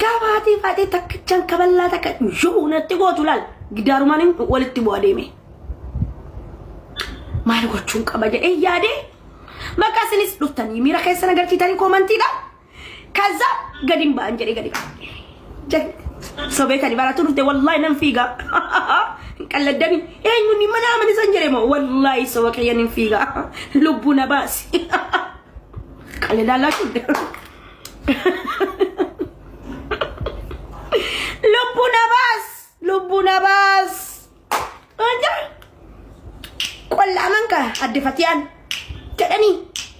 Gabaatee faatee takkichaan kaballaa takka yoo natti gootu laal gidaarumaan walitti bu'a deeme. Maal gochuun qaba jedhee yaadee maqaa isinis dhuftanii miira keessan agarsiitanii koomantiidha. Kaza gadi hin ba'an jedhee gadi ba'an. Sobee kan baratuu dhufte wallaahi nan fiigaa. Qalladdanii eenyuun hin mana amani san jedhe moo wallaahi soba kiyyan hin fiigaa. Lubbuu na baasi. Qalladaan laachuu Lubbu na baas! Lubbu na baas! Anja! Qollaaman ka adde fatiyaan jedhanii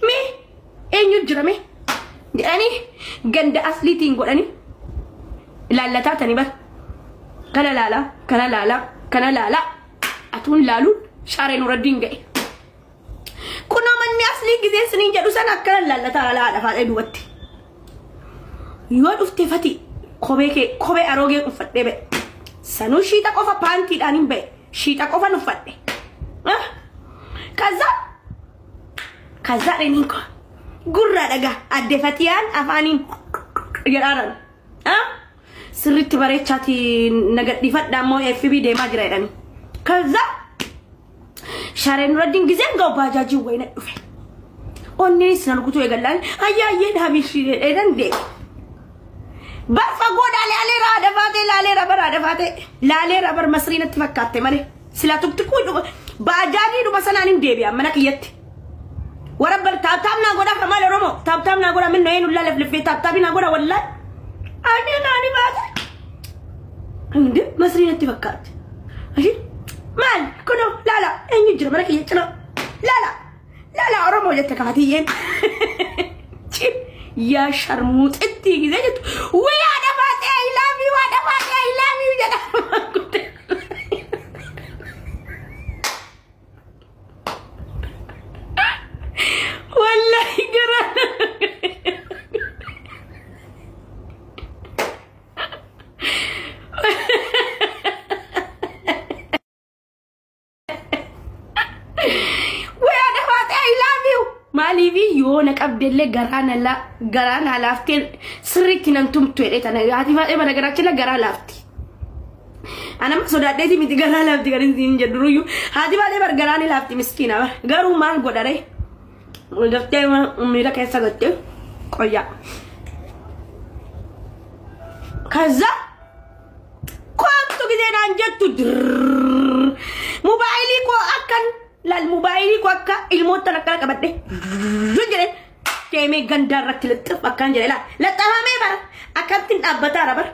mee eenyu jira mee jedhanii ganda asliitiin godhanii ilaallataa tani bar kana laalaa kana laalaa kana laalaa atuun laaluun shaaree nuraddiin ga'e. Kunoo manni aslii gisee siniin jedhu sana akkana laallata haala haadha faadha duubatti. Yoo dhufte fati kophee kee kophee aroogee uffadhee ba'e. Sanuu shiixa qofa paantiidhaan hin ba'e. Shiixa qofan uffadhe. Ah? Kaza kaza dhaniin koo gurraa dhagaa adde fatiyaan afaaniin jedhaaran. Ah? Sirriitti bareechaati nagadhiifadha ammoo FB deemaa jira jedhanii. Kaza Sharee Nuraddiin gizeen ga'u baajaajiin wayina dhufe. Onneenis na rukutuu eegallaan ayyaa ayyee dhaabishii dheedhan deema. Bar fagoo dhaalee alee raada baatee laalee raba raada baatee laalee rabar masrii natti fakkaatte malee sila tuktikuu dhuba baajaajii dhuba sanaan hin deebi'an mana kiyyatti. Warra bal taaptaap naa godhaa kamaa loromoo taaptaap naa godhaa minna eenyu laalef liffee taaptaapi naa godhaa wallaay. Ani naani baasa. Hundi masrii natti fakkaatti. Ayi maal kunoo laala eenyu jira mana kiyya cinaa laala laala oromoo jette kaatiyyeen. Yaa sharmuuxitti gisee jettu wii haadha baasee I love you haadha baasee I love you jedha. Wallahi garaa Waya dhafaate I love you. Maaliifi yoo na qabdellee garaa na la garaa na laaftee sirriitti nan tumtu jedhee tana haati faadhee mana garaachina garaa laafti. Anam sodaadheeti miti garaa laafti kan isin jedhuruyyuu haati baadhee bar garaa ni laafti miskiina bar garuu maal godhare gaftee miira keessa gattee qoyyaa. Kaza kottu gisee naan jettu dirrrr. Mobaayilii koo akkan Laal mobaayilii koo akka ilmoottan akkana qabadhe jedhe deemee gandaa irratti lixxif akkaan jedhe laal laxxafamee bara akkamittiin dhaabbataa bara.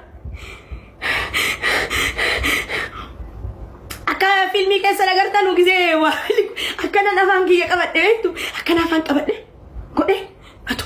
Akka fiilmii keessa agartan nu gisee waa akkanan afaan kiyya qabadhe beektu akkan afaan qabadhe godhe atu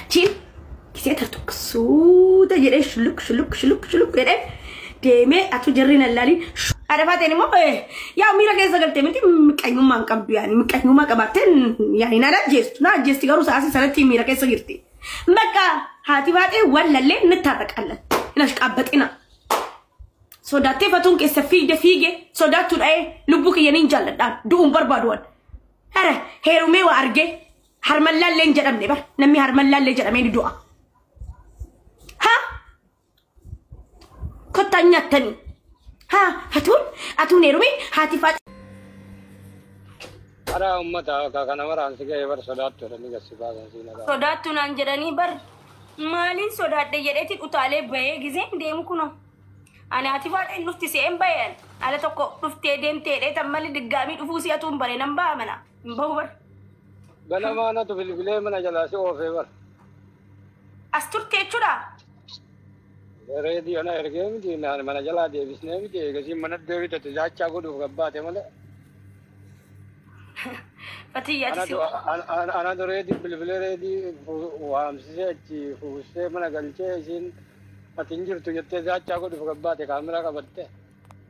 Achiin gisee tartuq suuta jedhee shuluk shuluk shuluk shuluk jedhee deemee atuu jarri nan laaliin adafaateen immoo yaa miira keessa galtee miti miqanyummaan qabdu yaani miqanyummaa qabaatteen yaani naan ajjeestu naan ajjeesti garuu saasii sanatti miira keessa jirti. Bakka haati baatee waan lallee ni taataqallan hin ashqaabbaxina. Sodaattee fatuun keessa fiigde fiige sodaattuu dha'ee lubbuu kiyya niin jaalladhaan du'uun barbaaduwan. Hara heerumee waa argee Harmallaallee hin jedhamne bar namni harmallaallee jedhamee ni du'a. Ha? Kottaan nyaattanii. Ha? Hatuun? Hatuun heerumee? Haati faa Karaa ummata akka kana maraan si ga'ee bar sodaattoota ni gassi baasan siin irraa. sodaattu naan jedhanii bar maaliin sodaadhe jedheeti utaalee bahee gizeen deemu kuno ani ati faadha hin dhufti se'een baheen ala tokko dhuftee deemtee dheetan malee diggaamii dhufuu si'atuun bare nan ba'a mana hin bahu bar Ganamaa natu bilbilee mana jalaa si oofee bara. As turte jechuudha. Reediyoo na ergee miti naan mana jalaa deebisnee miti eegasii mana deebite tijaachaa godhuuf gabbaate malee. Fatiyya ati si Anatu anatu reedii bilbilee reedii fu- waamsisee achi fuusee mana galchee isiin ati hin jirtu jettee tijaachaa godhuuf gabbaate kaameraa qabattee.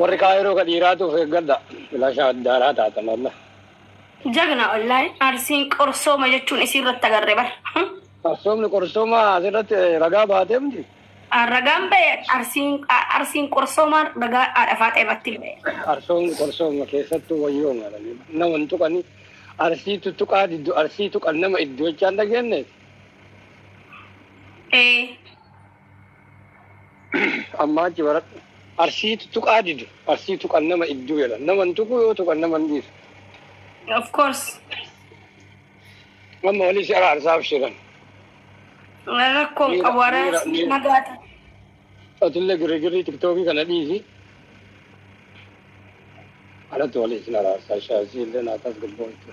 Warri kaayiroo ka dhiiraatu of eeggadha. Filasha addaaraa taatan Allah. Jagna wallahi arsiin qorsooma jechuun isii irratti agarre bar. Arsoomni qorsooma asirratti ragaa baatee miti. Ragaan ba'e arsiin arsiin qorsooma ragaa haadha faaxee irratti ba'e. Arsoomni qorsooma keessattuu wayyoo maranii nama hin tuqani. Arsii tuttuqaa diddu arsii tuqan nama iddoo jechaan dhageenyeeti. Ee. Ammaa achi baradhu. Arsii tuttuqaa didu. Arsii tuqan nama idduu jedhan. Nama hin tuqu yoo tuqan nama hin dhiisu. Of course. Amma walii si araarsaa abshiran. Rakkoo hin qabu araarsi nagaata. Atille girigirrii tiktookii kana dhiisi. Alatti walii si araarsaa shaazii illee naataas gabboontu.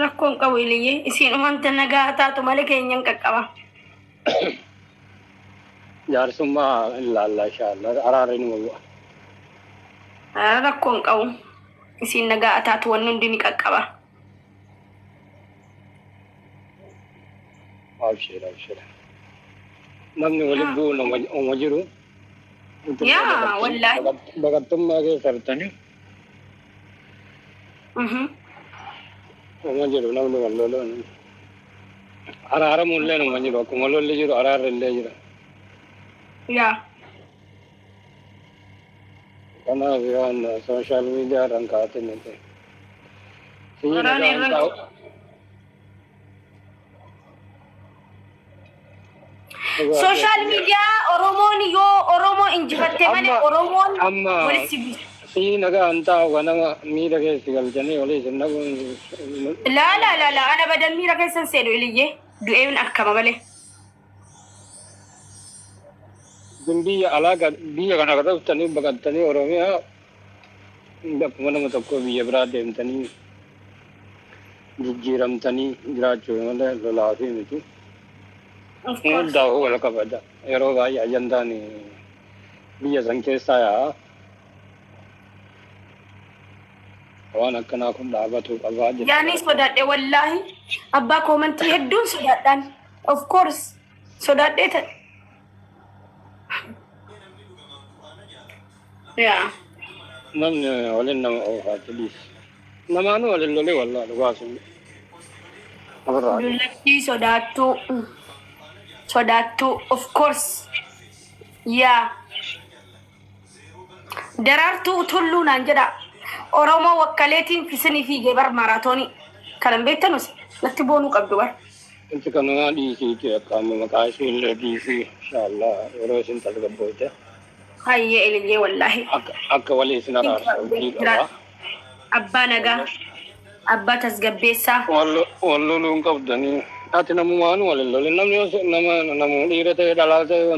Rakkoo hin qabu iliyyee. Isiin umanta nagaa taatu malee keenya hin qaqqaba. jaarsummaa hin laallaa inshaallaa araarri numa bu'a. Ah, rakkoo hin qabu isiin nagaa ataatu wanni hundi ni qaqqaba Abshir abshir. Namni waliin Ah. bu'uun uma jiru. yaa wallaahi Baqattummaa keessa jirtanii. Uma jedhu namni wal loluun araaramuun illee nama jiru akkuma lolli jiru araarri illee jira. Yaa. Kanaaf waan sooshaal miidiyaa irraan kaa'atin nuti. Waraana irra- Sooshaal miidiyaa Oromoon yoo Oromoo injifatte malee Amma- Oromoon amma- walitti buusa. Si nagaa hin taa'u kan nama miidha keessi galchanii olii isin dhabuun. Laa laa laa laa ana badan miira keessan seenu iliyyee du'een akkama malee. Isin biyya alaa kan biyya kana akka dhuftanii baqattanii Oromiyaa hunda akkuma nama tokkoo biyya biraa deemtanii jijjiiramtanii jiraachuu malee lolaa fi miti. Of course. Hundaa'uu wal qabata. Yeroo baay'ee ajandaan biyya san keessaa yaa'a. Waan akkanaa kun dhaabatuu qabaa Yaanii jechuudha. sodaadhe wallaahi. Abbaa koomantii hedduun sodaadhaan. Of course sodaadhee ta'e. Yaa. Namni waliin nama oofaa please. Namaanuu waliin lolee wallaa dhugaa sun. Abirraa. Dullachii sodaattuu. Sodaattuu of course. Yaa. Daraartuu Tulluu naan jedhaa. Oromoo wakkaleetiin fisinii fiigee bar maaraatoonii. Kanan beektanus natti boonuu qabdu bar. Wanti kanaa dhiisiiti akka amma maqaa ishee illee dhiisii inshaallaa yeroo isin tasgabbooyte. Hayyee Eliyyee wallaahi. Akka akka walii isin araarsa hojii qabaa. Abbaa nagaa. Abbaa tasgabbeessaa. Wal loluu hin qabdanii. Ati namumaan wal hin lolin namni yoo nama namu dhiira ta'e dhalaa ta'e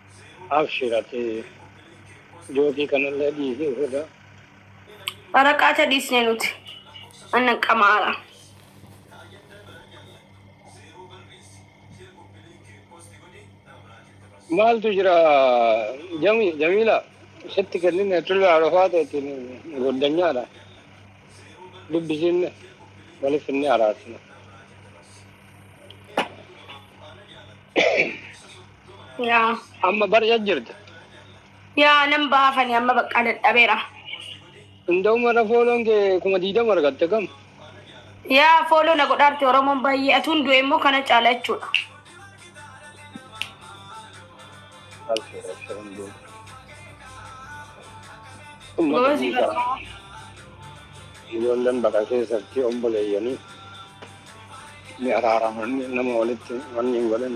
Abshir ati jookii kanallee dhiisii ofirraa. Waraqaata dhiisne nuti. Anna qamaara. Maaltu jira Jami- Jamiila sitti kennine tullu arafaa ta'etiin goddanyaadha. Dubbisiin waliif inni araarsina. yaa Amma barja jirta. yaa nan baafani amma baqqaa dadhabeera Hunda'uma irra fooloon kee kuma diidama argatte kam? yaa fooloo na godhaarte oromoon baay'ee atuun du'e immoo kana caala jechuudha Gozi barka. Ijoolleen baqa keessatti obboleeyyanii ni araaraman nama walitti wanni hin godhin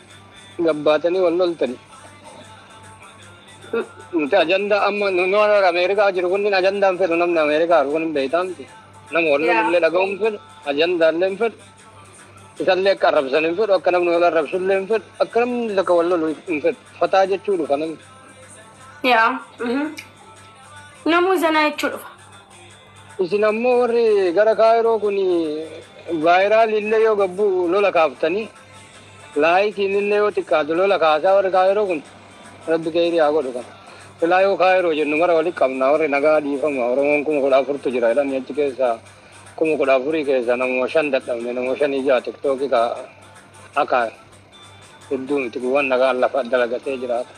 gabbaatanii wal loltani. Nuti ajandaa amma nu nu warra Ameerikaa jiru kunniin ajandaa hin fedhu namni Ameerikaa jiru kun hin beektaa miti. Nama wal Yeah. lolullee dhaga'uu hin fedhu, ajandaallee hin fedhu. Isallee akka arrabsan hin fedhu, akka namni wal arrabsullee hin fedhu, akka namni takka wal lolu hin fedhu. Fataa jechuu dhufa namni. Yaa. mhm. Namuu zanaa jechuu dhufa. Isin ammoo warri gara Kaayiroo kun vaayiraaliillee yoo gad bu'u lola kaaftanii, laayikiinillee yoo xiqqaatu lola kaasaa warri Kaayiroo kun. Rabbi keyrii haa godhu kana. Silaa yoo Kaayiroo jennu mara walitti qabna warri nagaa dhiifama Oromoon kuma kudha afurtu jira jedhanii achi keessaa kuma kudha afurii keessaa namuma shan dadhabne namuma shanii ja'a tiktookii ka hakaa. Hedduu miti gowwaan nagaan lafa dalagatee jiraata.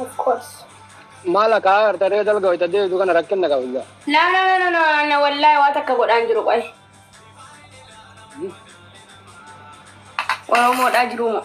Of course. Maal akka agarta ree dalga wayita deebitu kana rakkinna qabu jaa. No no no no no anna wallahi waa takka godhaan jiru qoy. Oromoodhaa jiruu moo.